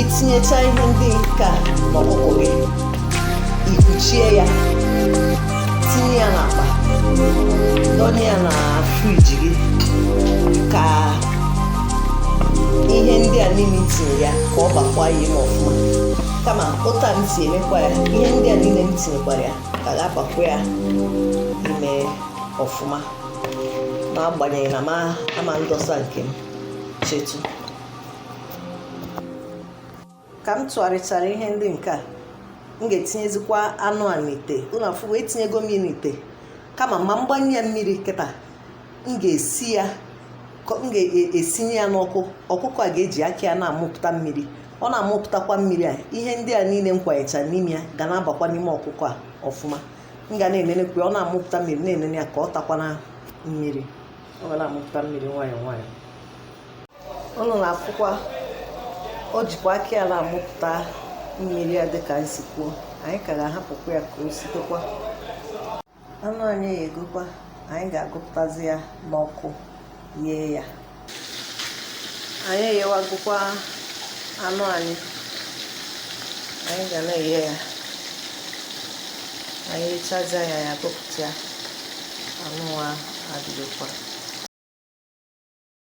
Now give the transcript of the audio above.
itinyecha ihe ndị nke a n'ọkụkọ gị ikpuchie ya tinye ya n'akpa dọnye ya na friji gị ka ihe ndị a niile i tinye ya ka ọ bakwa ya ime ọfụma kama otu a m si emekwa ya ihe ndị a niile m tinyekwara ya ka ga-abakwa ya ime ọfụma n'agbanyeghị na m ama ndọsa nke m chetu ka m tụgharịchara ihe ndị nke a m ga-etinyezikwa anụ a n'ite ụnụ afụ etinyego m n'ite kama m ama mgbanye ya mmiri kịta m ga-esi ya m ga-esinye ya n'ọkụ ọkụkọ a ga-eji aka ya na-amụpụta mmiri ọ na-amụpụtakwa mmiri a ihe ndị a niile m kwanyecha n'ime ya ga na-abakwa n'ime ọkụkọ a ọfụma m ga na-enenekwu ya ọ na-amụpụta mmiri na-enene ya ka ọ takwana mmiri ọ ga na-amụpụta mmiri nwayọọ nwayọọ ụnụ na-afụkwa o jikwa aka ya na-amụpụta mmiri ya dịka m si kwuo anyị ka ga-ahapụkwa ya ka o sitekwa anụ anyị eyegokwa anyị ga-agụpụtazi ya n'ọkụ yee ya anyị eyewagokwa anụ anyị anyị ga na-eye ya anyị eyechazia ya anyị agụpụta ya anụ nwa adịgokwa